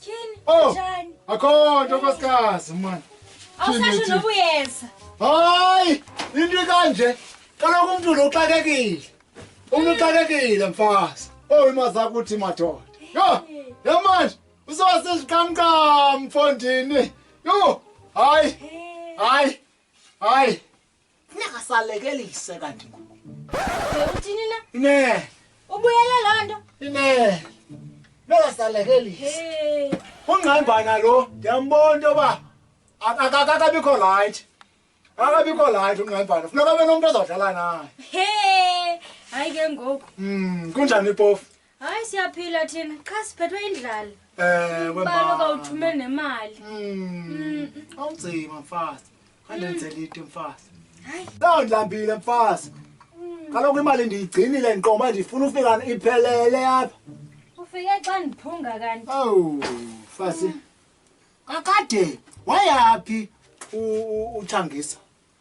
Tyhini, Oh. njani? akho nto nkosikazi mani Awusasho Tyhini, noba uyeza. hayi into ikanje kaloku umntu lo uxakekile umntu uxakekile mfazi owu imazi akuthi madoda yho yho manje uzoba seziqamqam mfondini yho hayi hayi hayi Funeka salekelise kanti ngoku. Uthini na? Ine. Ubuyele loo nto? Ine. Funeka salekelise. Ungqambana lo ndiyambona into yoba akakabikho rayithi. Akabikho rayithi ungqambana. Funeka abe nomntu ozawudlala naye. He! Hayi ke ngoku. Mm, kunjani ipofu? hayi siyaphila thina qha siphethwe indlala ewe balo kawuthume nemali hmm, awunzima mfazi khandenzela into mfazi hayi loo ndlambile mfazi kaloku imali ndiyigcinile ndiqoba ndifuna ufika iphelele apha ufike xa ndiphunga kanti owu mfazi kakade wayaphi uthangisa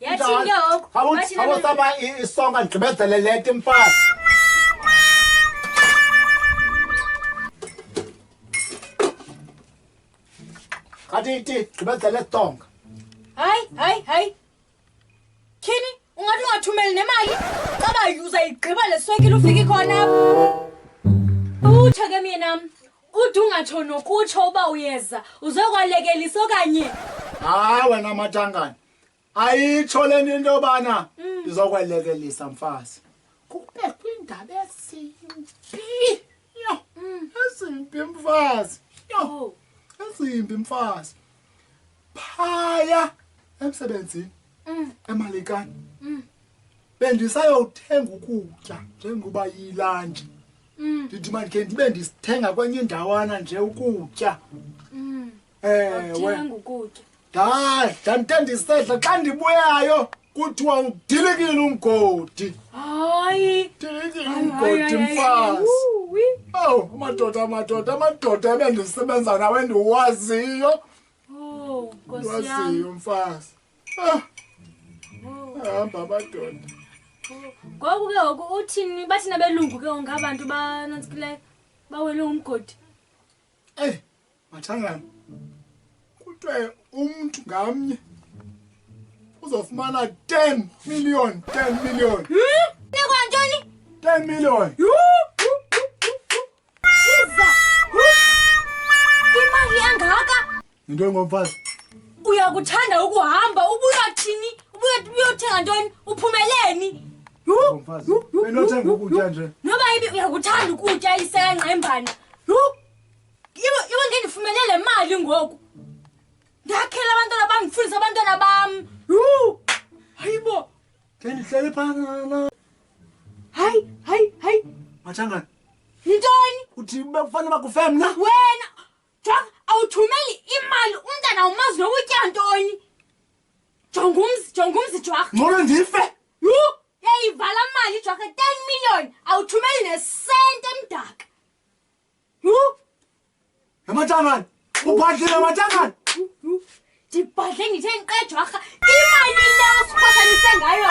yatshinge oku Wathi nami- awusaba isonga ndigqibezele leti mfazi kati iti gqibezele songa hayi hayi hayi tyhini ungathi ungathumeli nemali xa bayuza igqiba le swekile ufike khona apho utsho ke myenam Ude ungatsho nokutsho uba uyeza uzokwalekelisa okanye hayi wena matangana ayitsho le nto into yobana mm. izokwalekelisa mfazi kube kwindaba ezimbi yho mm. ezimbi mfazi yho oh. ezimbi mfazi phaya emsebenzini mm. emalekani mm. bendisayothenga ukutya njengoba yilantshi mm. ndithi mandikhe ndibe ndisithenga kwenye indawana nje ukutya mm. ewe ndadla ndite ndisedla xa ndibuyayo kuthiwa udilikile umgodi hayi dilikile umgodi mfazi ow amadoda amadoda amadoda ebendisebenza nawe ndiwaziyo Oh, Nkosi yami. Wasiyo mfazi. Ah. Oh. Hamba abadoda. Ngoku ke ngoku uthini bathina belungu ke ngoku abantu banantsikileyo bawele umgodi. Ey, mathangana. Kutwe umuntu ngamnye uzofumana 10 million, 10 million. Hmm? Nekwa ntoni? 10 million. Yuu! Imali engaka? Into engomfazi. Uyakuthanda ukuhamba ubuya thini? Ubuya uyothenga ntoni? Uphumeleni? Ngomfazi. Enothenga ukutya nje. Noba ibi uyakuthanda ukutya isenqa embana. Yho. Iwe iwe ngendifumele le mali ngoku. Ndakhela abantwana bam, ndifundisa abantwana bam. Yho. Hayibo. Ke ndihlele phana. hayi hayi hayi Mathangana. yintoni Uthi bekufanele bakufeye mna? wena jonga awuthumeli imali umntana umazi noba utya ntoni jonga umzi jonga umzi jwarha Ngcono ndife. yhu yayivala mali jwarha ten million awuthumeli nesente emdaka yhu Mathangana. Ubhadlile Mathangana. yhu ndibhadle ndithe ndiqe jwarha imali leyo sikhosanise ngayo